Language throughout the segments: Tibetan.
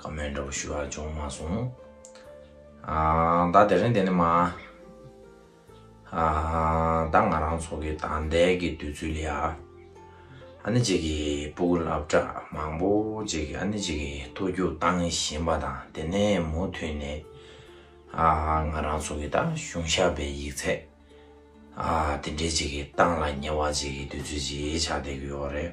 ཁ་མེད་འདྲ་པོ་ཞུ་བ་བྱུང་མ་སོང། ད་དེ་རིང་དེ་ནས་མ། ད་ང་རང་ཚོ་གི་ད་ལྟའི་གི་དུས་ཚོད་ལ། ཨ་ནེ་ཅིག་གི་སྤུ་གུ་ལབ་གྲ་མང་པོ་ཅིག་ཨ་ནེ་ཅིག་གི་ཐུགས་རྒྱུག་བཏང་བཞིན་པ་དང་དེ་ནས་མུ་མཐུད་ནས། ང་རང་ཚོ་གི་ད་གཞུང་ཞབས་པའི་ཡིག་ཚད། དེ་འདྲའི་ཅིག་གི་བཏང་ལ་ཉེ་བ་ཅིག་གི་དུས་ཚོད་ཅིག་ཆགས་བསྡད་ཀྱི་ཡོད་རེད།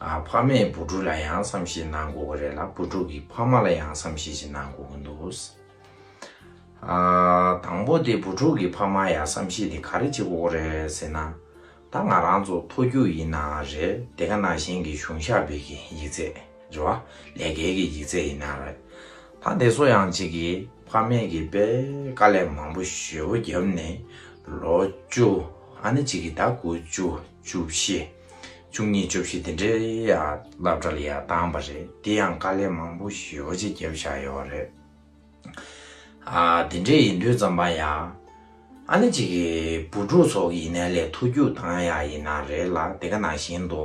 ཕ་མས་བུ་ཕྲུག་ལ་ཡང་བསམ་ཤེས་གནང་དགོས་ཀྱི་རེད་ལ་བུ་ཕྲུག་གིས་ཕ་མ་ལ་ཡང་བསམ་ཤེས་ཤིག་གནང་དགོས་ཀྱི་འདུག་དང་པོ་དེ་བུ་ཕྲུག་གིས་ཕ་མ་ཡ་བསམ་ཤེས་དེ་ག་རེ་བྱེད་དགོས་ཀྱི་རེད་ཟེར་ན། ད་ང་རང་ཚོ་མཐོ་རྒྱུགས་ཡིན་ནའང་རེད་དེ་ག་ནང་བཞིན་གྱི་གཞུང་ཞབས་པའི་གི་ཡིག་ཚད་རེད་བ་ལས་འགལ་གྱི་ཡིག་ཚད་ཡིན་ནའང་རེད་ད་དེ་ཚོ་ཡང་གཅིག་གིས་ཕ་མས་གི་པས་དཀའ་ལས་མང་པོ་ཞེ་བོ་བརྒྱབ་ནས་ལོ་བཅུ་ཨ་ནི་གཅིག་གིས་ད་དགུ་བཅུ་བཅུ་བཞི། བཅུ་གཉིས་བཅུ་བཞི་དེ་འདྲའི་ཡ་རླབས་འདྲ་ལ་ཡ་བཏང་བ་རེད་དེ་ཡང་དཀའ་ལས་མང་པོ་ཞི་བ་ཅིག་བརྒྱབ་བཞག་ཡོད་བ་རེད། ཨ་དེ་འདྲས་ཡིན་དུས་རྩམ་པ་ཡ་ཨ་ནི་གཅིག་གི་བུ་ཕྲུག་ཚོགས་ཀྱི་ཡིན་ནའི་ལས་ཐུགས་རྒྱུགས་བཏང་ཡག་ཡིན་ན་རེད་ལ་དེ་ག་ནང་བཞིན་དུ་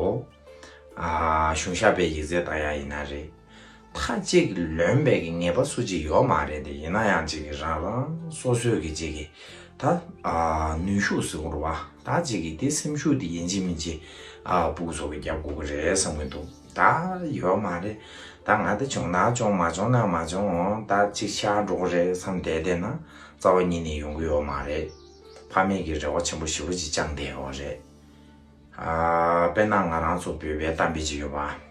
ཨ་གཞུང་ཞབས་པའི་ཡིག་རྩལ་བཏང་ཡག་ཡིན་ན་རེད། མཐའ་གཅིག་ལོན་སྦེད་ཀྱི་ངེས་པ་སུ་གཅིག་ཡོག་མ་རེད་དེ་ཡིན་ན་ཡང་གཅིག་གི་རང་རང་སོ་སོའི་གི་གཅིག་གི་ད་ནུས་ཤུགས་སུ་འགོར་བ་ད་གཅིག་གི་དེ་སེམས་ཤུགས་དེ་ཡིན་གཅིག་མིན་གཅིག་སྤུག་སོགས་གི་རྒྱབ་དགོ་གི་རེད་བསམ་གི་འདུག་ད་ཡོག་མ་རེད་ད་ང་དེ་བྱུང་ན་བྱུང་མ་བྱུང་ན་མ་བྱུང་ད་གཅིག་ཆགས་འགྲོ་གི་རེད་བསམ་བསྡད་བསྡད་ན་རྩ་བ་ཉིད་ནས་ཡོང་གི་ཡོག་མ་རེད་ཕ་མེས་ཀྱི་རེ་བ་ཆེན་པོ་ཞེ་བོ་གཅིག་བཅངས་བསྡད་ཡོག་རེད་དཔེར་ན་ང་རང་ཚོ་བོད་པའི་གཏམ་དཔེ་གཅིག་ཡོད་པ།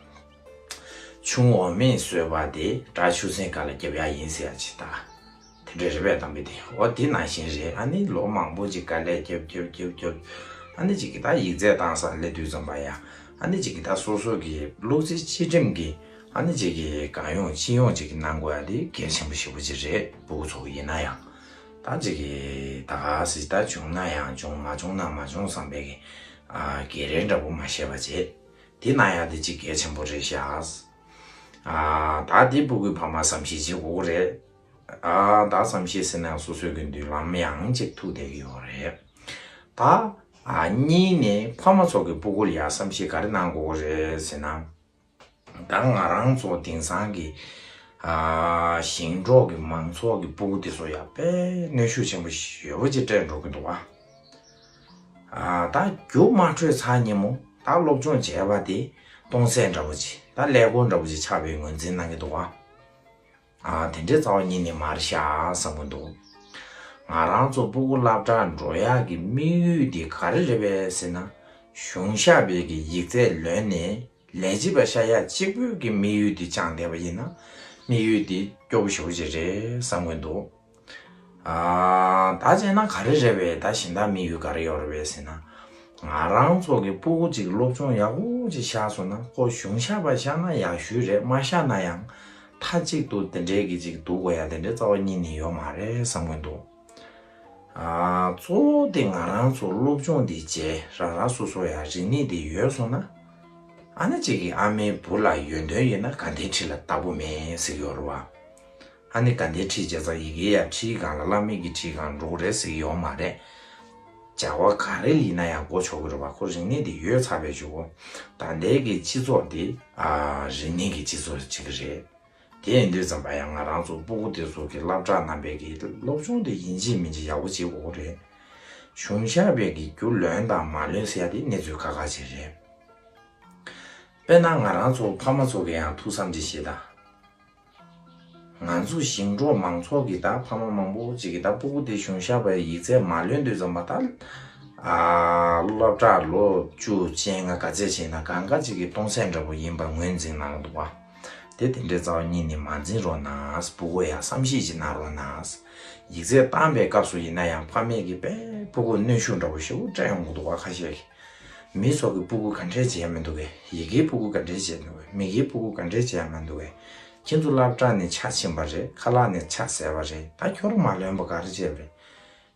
ཆུང་འོག་མས་གསོལ་བ་དེ་དགྲ་ཆུ་སྲིན་ག་ལ་རྒྱབ་ཡ་ཡིན་ཟེར་ཡ་ཇི་ལྟར། དེ་འདྲའི་རེ་བས་གཏམ་དཔེ་དེ་འོ་དེ་ནང་བཞིན་རེད་ཨ་ནི་ལོ་མང་པོ་ཅིག་ག་ལས་རྒྱབ་རྒྱབ་རྒྱབ་རྒྱབ། ཨ་ནི་ཅིག་གི་དག་ཡིག་རྩལ་བཏང་ས་ལས་དུས་ཙམ་པ་ཡ་ཨ་ནི་ཅིག་གི་དག་སོ་སོ་གི་ལུག་རྫི་སྤྱི་སྒྲིམ་གི་ཨ་ནི་ཅིག་གི་གང་ཡོང་ཅི་ཡོང་ཅིག་གི་གནང་དགོས་ཡ་དེ་གལ་ཆེན་པོ་ཞེ་པོ་ཅིག་རེད་བུ་གུ་ཚོ་གི་ཡིན་ན་ཡང་དག་ཅིག་གི་དག་ཟི་ལྟར་བྱུང་ན་ཡང་བྱུང་མ་བྱུང་ན་མ་བྱུང་བསམ་པའི་གི་གེ་རེ་འདྲ་པོ་མ་བཤད་པ་བྱེད། དེ་ན་ཡང་དེ་སྤྱི་སྐད་ཆེན་པོ་རེད་ཤགས། ད་དེ་སྤུ་གུས་ཕ་མ་བསམ་ཤེས་བྱེད་དགོས་རེད། ད་བསམ་ཤེས་ཟེར་ན་ཡང་སོ་སོའི་གི་མདུན་ལམ་ཡང་གཅིག་ཐུག་བསྡད་གི་ཡོད་རེད། ད་གཉིས་ནས་ཕ་མ་ཚོ་གི་སྤུ་གུར་ཡང་བསམ་ཤེས་ག་རེ་གནང་དགོས་རེད་ཟེར་ན། ད་ང་རང་ཚོ་དེང་སང་གི་ཞིང་འབྲོག་གི་མང་ཚོགས་ཀྱི་སྤུ་གུ་དེ་ཚོ་ཡང་དཔེ་གནོད་ཤུགས་ཆེན་པོ་ཞེ་བོ་ཅིག་སྤྲད་འགྲོ་གི་འདུག་བ། ད་རྒྱུ་དམར་ཁྲོད་ཚ་སྙན་མོ་ད་སློབ་སྦྱོང་བྱས་པ་དེ་སྟོང་ཟད་འདྲ་པོ་ཆེ་ད་ཀླད་ཀོར་འདྲ་པོ་ཆེ་ཆགས་པའི་ངོས་འཛིན་གནང་གི་འདུག་ཨ། དེ་འདྲའི་རྩ་བ་ཉིད་ནས་མར་བཞག་བསམ་གྱི་འདུག་ང་རང་ཚོ་སྤུ་གུ་བླ་བྲང་འབྲོག་གཡག་གི་དམིགས་ཡུལ་དེ་ག་རེ་རེད་པས་ཟེར་ན་གཞུང་ཞབས་པའི་གི་ཡིག་ཚད་ལོན་ནས་ལས་བྱེད་པ་ཤ་ཡག་གཅིག་པོའི་གི་དམིགས་ཡུལ་དེ་བཅངས་བསྡད་པ་ཡིན་ན་དམིགས་ཡུལ་དེ་སྐྱོ་པོ་ཞོ་པོ་ཅིག་རེད་བསམ་གྱི་འདུག། ད་བྱས་ན་ག་རེ་རེད་བས་ད་གཞན་དག་མི་ཡུལ་ག་རེ་ཡོད་རེད་བས་ཟེར་ན། ང་རང་ཚོ་གི་སྤུ་གུ་ཅིག་སློབ་སྦྱོང་ཡག་པོ་ཅིག་བཞག་སོང་ན་ཁོ་གཞུང་བཞག་པ་བཞག་ན་ཡག་ཤོས་རེད་མ་བཞག་ན་ཡང་མཐའ་གཅིག་ཏུ་དེ་འདྲའི་གི་ཅིག་འདུག་གོ་ཡ་དེ་འདྲའི་རྩ་བ་གཉིས་ནི་ཡོད་མ་རེད་བསམ་གྱིན་འདུག། གཙོ་བོ་དེ་ང་རང་ཚོ་སློབ་སྦྱོང་དེ་བྱས་རང་རང་སོ་སོ་ཡང་རིག་གནས་དེ་ཡོད་སོང་ན། ཨ་ན་གཅིག་གི་ཨ་མའི་བུ་ལ་ཡོན་ཏོན་ཡོད་ན་དགའ་ལྡན་ཁྲི་ལ་བདག་པོ་མེད་ཟིག་ཡོད་རེད་བ། ཨ་ནི་དགའ་ཟླའི་ཁྲིད་བྱས་ཙང་ཡི་གེའི་ཡ་ཁྲིད་སྒང་ལ་བླ་མེད་ཀྱི་ཁྲིད་སྒང་འགྲོ་གི་རེད་ཟེར་གྱི་ཡོག་མ་རེད། བྱ་བ་ག་རེ་ཡིན་ན་ཡང་འགོ་ཆོག་གི་རུ་བ་ཁོ་རིག་གནས་དེ་ཡོད་ཚར་བས་ཆུ་བོ་དགའ་ཟླའི་གི་སྤྱི་ཚོགས་དེ། རིག་གནས་ཀྱི་སྤྱི་ཚོགས་ཅིག་གི་རེད། དེ་ཡིན་དུས་ཙམ་པ་ཡང་ང་རང་ཚོ་སྤུ་གུ་དེ་ཚོ་གི་སླབ་གྲགས་རྣམ་པས་གི་སློབ་ཆུང་དེ་ཡིན་ཅིག་མིན་ཅིག་ཡག་པོ་བྱེད་དགོ་གི་རེད། གཞུང་ཞབས་པས་གི་རྒྱུ་ལོན་དང་མ་ལོན་ཟེར་ཡ་དེ་གནས་ཚུལ་ཁ་ཁ་ཅིག་རེད། དཔེར་ན་ང་རང་ཚོ་ཕ་མ་ཚོ་གི་ཡང་ཐུགས་བསམ་ཅིག་བཞེས་དང། ང་ཚོ་ཞིང་འབྲོག་མང་ཚོགས་ཀྱི་ད་ཕ་མ་མང་པོ་ཅིག་གི་ད་སྤུ་གུ་དེ་གཞུང་ཞབས་པའི་ཡིག་ཚད་མ་ལོན་དུས་ཙམ་པ་ད་སློབ་གྲྭར་ལོ་བཅུ་ཅན་ལྔ་ག་ཚད་ཆེ་ན་གང་ག་ཅིག་གི་སྟོང་ཟད་འདྲ་པོ་ཡིན་པར་ངོས་འཛིན་གནང་འདུག་བ། དེ་དེ་འདྲའི་རྩ་བ་ཉིད་ནས་མ་འཛིན་རོགས་གནང་སྤུ་གུ་ཡང་བསམ་ཤེས་ཅིག་གནང་རོགས་གནང། ཡིག་ཚད་བཏང་པའི་སྐབས་སུ་ཡིན་ན་ཡང་ཕ་མེས་ཀྱི་པས་སྤུ་གུ་གནོན་ཤུགས་འདྲ་པོ་ཞེ་བོ་སྤྲད་ཡོང་གི་འདུག་བ་ཁ་ཤས་ཀྱིས་མིའི་ཚོགས་ཀྱི་སྤུ་གུ་ག་འདྲས་འཇལ་མི་འདུག་གས་ཡི་གེའི་སྤུ་གུ་ག་འདྲས་འཇལ་འདུག་གས་མི་གེའི་སྤུ་གུ་ག་འདྲས་འཇལ་མ་འདུག་གས་ཁྱེད་ཚོ་ལབ་ཁྲག་ནས་ཆག་ཕྱིན་པ་རེད་ཁ་ལག་ནས་ཆག་ཟད་པ་རེད་ད་ཁྱོད་ར་མ་ལོན་པ་ག་རེ་བྱས་པ་རེད་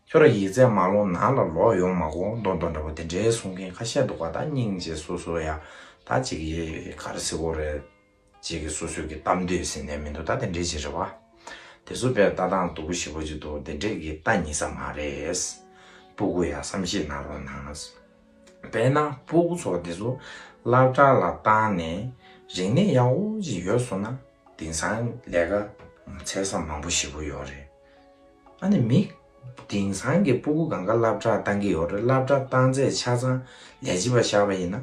ཁྱོད་ར་ཡིག་རྩལ་མ་ལོ་ནག་ལ་ལོག་ཡོང་མ་གོ་མདོ་མདོ་འདྲ་བོ་དེ་འདྲའི་གསུང་མཁན་ཁ་ཤས་འདུག་ག་ད་སྙིང་རྗེ་སོ་སོ་ཡ་ད་ཅིག་ཡེ་ག་ར་ཟིག་གོ་རེད། ཅིག་གིས་སོ་སོའི་གི་གཏམ་བསྡོད་ཟིན་ནས་མི་འདུག་ད་དེ་འདྲས་ཅིག་རེད་བ། དེ་ཚོ་དཔེར་ལྟ་སྟངས་སྡུག་པོ་ཞིག་བོ་ཅིག་འདུག་དེ་འདྲས་གི་ལྟ་ཉིས་ས་མ་རེད། སྤུ་གུ་ཡང་བསམ་ཤེས་གནང་རོགས་གནང། དཔེར་ན་སྤུ་གུ་ཚོ་དེ་ཚོ་བླ་བྲ་ལ་བཏང་ནས་རིག་གནས་ཡག་བོ་ཅིག་ཡོད་སོང་ན་དེང་སང་ལས་ཀ་འཚལ་ས་མང་བོ་ཞིག་བོ་ཡོད་རེད། ཨ་ནི་མི་དེང་སང་གི་སྤུ་གུ་གང་ག་བླ་བྲ་བཏང་གི་ཡོད་རེད་བླ་བྲ་བཏང་ཚད་ཆ་ཚང་ལས་བྱེད་པ་ཤར་བ་ཡིན་ན་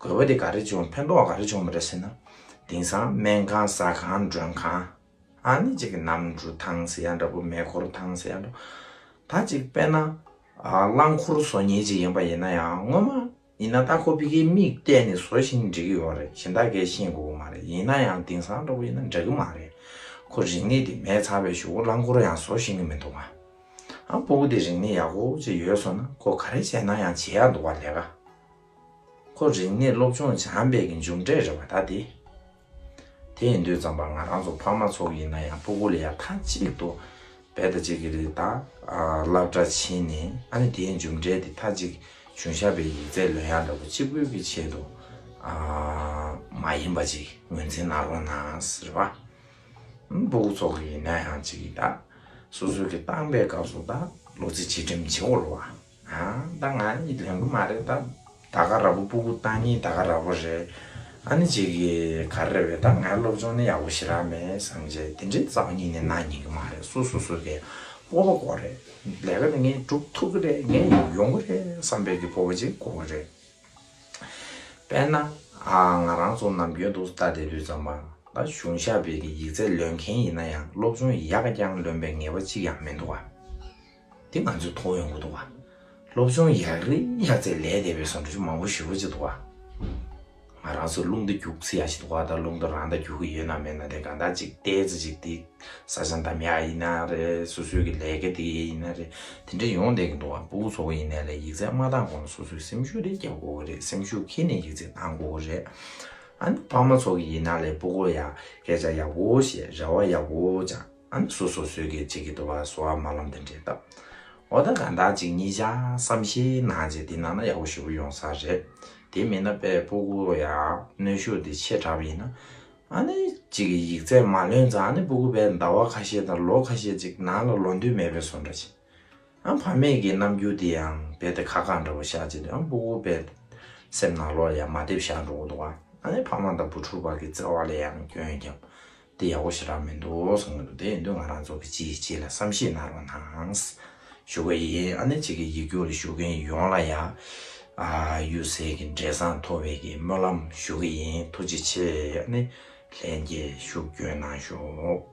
དགོས་པ་དེ་ག་རེ་བྱུང་ཕན་ཐོགས་ག་རེ་བྱུང་མི་རེད་ཟེར་ན། དེང་སང་སྨན་ཁང་ཟ་ཁང་མགྲོན་ཁང། ཨ་ནི་གཅིག་གི་ནམ་གྲུ་ཐང་ཟེར་ཡ་འདྲ་པོ་མེ་འཁོར་ཐང་ཟེར་ཡ་འདྲ་པོ། ད་གཅིག་དཔེར་ན། རླངས་འཁོར་བཟོ་ཉེན་ཅིག་ཡིན་པ་ཡིན་ན་ཡང་སྔོན་མ་ཡིན་ན་རྟ་ཁོ་ཕི་ཁའི་མིག་གཏད་ནས་བཟོ་བཞིན་འགྲིག་གི་ཡོད་རེད་གཞན་དག་གས་ཤེས་དགོས་ཀྱི་མ་རེད་ཡིན་ན་ཡང་དེང་སང་འདྲ་པོ་ཡིན་ན་འགྲིག་གི་མ་རེད། ཁོ་རིག་གནས་དེ་མེད་ཚར་བའི་ཞུ་གོ་རླངས་འཁོར་ཡང་བཟོ་བཞིན་གྱི་མི་འདུག་ག། ཨ་སྤོ་བོ་དེ་རིག་གནས་ཡག་པོ་ཅིག་ཡོད་བཟོ་ན་ཁོ་ག་རེ་བྱས་ན་ཡང་བྱེད་ཡག་འདུག་ག་ལས་ཀ། ཁོ་རིག་གནས་སློབ་ཆུང་བྱམས་པས་ཀྱི་མཇུག་འབྲས་རེད་བ་ད་དེ། དེ་ཡིན་དུས་རྩམ་པ་ང་རང་ཚོ་ཕ་མ་ཚོགས་ཡིན་ན་ཡང་སྤུ་གུ་ལ་ཡ་མཐའ་གཅིག་ཏུ་བད་ད་ཅིག་གི་རེད་ད་བླག་དྲ་ཕྱིན་ནས་ཨ་ནི་དེའི་མཇུག་འབྲས་དེ་མཐའ་གཅིག་གཞུང་ཞབས་པའི་ཡིག་རྩད་ལོན་ཡག་འདྲ་པོ་གཅིག་དགོས་ཀྱི་ཆེད་དུ་མ་ཡིན་པ་ཅིག་ངོས་འཛིན་གནང་རོགས་གནང་རེད་བ། སྤུ་གུ་ཚོགས་ཀྱི་ཡིན་ན་ཡང་ཅིག་གི་ད་སོ་སོའི་གི་བཏང་པའི་སྐབས་སུ་ད་ལོ་ཚིགས་བྱེད་ཁྲིམས་བྱེད་བོར་བ། ད་ང་གཉིས་ལེན་གི་མ་རེད་ད། ད་ག་ར་བོ་སྤུ་གུ་ཏང་གཉིས་ད་ག་ར་བོ་རེད། ཨ་ནི་ཅིག་གིས་ག་རེ་རེད་བས་ད་ང་སློབ་སྦྱོང་ནི་ཡག་པོ་ཞིག་རག་མེད་བསམ་བྱས་དེ་འདྲའི་རྩ་བ་གཉིས་ནས་ན་ཉན་གི་མ་རེད་སོ་སོ་སོ་དེ་སྤོབས་པ་གོ་རེད་ལས་ཀ་ནི་ངས་སྒྲུབ་ཐུབ་གི་རེད་ངས་ཡོང་གི་རེད་བསམ་བས་ཀྱི་སྤོབས་པ་ཅིག་གོ་གི་རེད། དཔེར་ན། ང་རང་ཚོ་ནམ་རྒྱུན་དུག་རྟ་དེད་དུས་ཙམ་མ་ད་གཞུང་ཞབས་པས་ཀྱི་ཡིག་ཚད་ལོན་མཁན་ཡིན་ན་ཡང་སློབ་སྦྱོང་ཡག་རྐྱང་ལོན་པའི་ངེས་པ་ཅིག་ཡང་མི་འདུག་ག། འདི་ང་ཚོས་མཐོང་ཡོང་གི་འདུག་བ། སློབ་སྦྱོང་ཡག་རེད་ཡག་རྩེད་ལས་བསྡད་པའི་ཟོང་འབྲུ་ཆུ་མང་པོ་ཞུ་གྱི་འདུག་བ། ང་རང་ཚོས་རླུང་རྟ་རྒྱུགས་ཚུལ་ཡག་ཞིག་འདུག་བ་དང་རླུང་རྟ་རང་ད་རྒྱུགས་གི་ཡོད་ན་མེད་ན་དེ་གང་དག་ཅིག་བལྟས་ཚེ་ཅིག་དེ་བཟའ་ཟ་འདམ་ཡག་ཡིན་ན་རེད་སོ་སོའི་གི་ལས་ཀ་དེ་ཡིན་ན་རེད་དེ་འདྲ་ཡོང་བསྡད་གི་འདུག་བ་པུའུ་ཚོགས་པ་ཡིན་ནའི་ལས་ཡིག་ཚད་མ་བཏང་གོང་ལ་སོ་སོའི་སེམས་ཤུགས་རེ་རྒྱབ་དགོས་གི་རེད་སེམས་ཤུགས་ཁེལ་ནས་ཡིག་ཚད་བཏང་དགོས་གི་རེད། ཨ་ནི་ཕ་མ་ཚོགས་གི་ཡིན་ན་ལས་སྤུ་གོ་ཡག་སྐད་ཆ་ཡག་པོ་བཤད་རེ་བ་ཡག་པོ་སྦྱངས། ཨམ་སོ་སོ་སོས་གེགས་བྱེད་ཀྱི་འདུག་བ་སོ་ཨ་མ་ལམ་དེ་འདྲེ་ལྟ་འོ་ད་ག་འདག་ཅིག་གཉིས་བྱ་བསམ་ཤེས་ནང་བྱས་དེ་ནང་ན་ཡག་པོ་ཞུ་གི་ཡོང་ས་རེད་དེ་མིན་ན་པའི་པོ་གུ་ཡ་གནོད་ཤུགས་དེ་ཆེ་དྲག་པ་ཡིན་ན་ཨ་ནི་ཅིག་གི་ཡིག་ཚད་མ་ལོན་ཙང་ཨ་ནི་པོ་གུ་པའི་འདའ་བ་ཁ་ཤས་དང་ལོ་ཁ་ཤས་ཅིག་ནང་ལ་ལོ་འདུན་མེད་པའི་སོ་འདྲ་ཅིག་ཨ་ཕ་མེས་ཀྱི་རྣམ་འགྱུར་དེ་ཡང་བལ་དེ་ཁ་ཁ་འདྲ་བོ་ཤག་བྱས་དུས་ཨ་པོ་གུ་པའི་སེམས་ནང་ལོ་ལ་ཡང་མ་བསྡེབས་ཤག་འགྲོ་གི་འདུག་བ་ཨ་ནི་ཕ་མ་དང་བུ་ཕྲུག་བར་གྱི་བརྩེ་བ་ལ་ཡང་སྐྱོན་བརྒྱབ་འདི་ཡག་པོ་ཞིག་རག་མི་འདུག་གསུང་གི་འདུག་དེ་ཡིན་དུས་ང་རང་ཚོ་གི་ཅི་ཡི་ཅི་ལ་བསམ་ཤེས་གནང་རོགས་གནང། ཞུ་གི་ཡིན་ཨ་ནེ་ཅིག་གི་ཡིག་རྒྱུགས་ལ་ཞུགས་མཁན་ཡོངས་ལ་ཡང། གཡུལ་ཟས་ཀྱི་འབྲས་བཟང་མཐོ་བའི་གི་སྨོན་ལམ་ཞུ་གི་ཡིན་ཐུགས་རྗེ་ཆེ་ཨ་ནེ། ལན་རྒྱས་ཤུགས་བསྐྱོན་གནང་ཞོགས།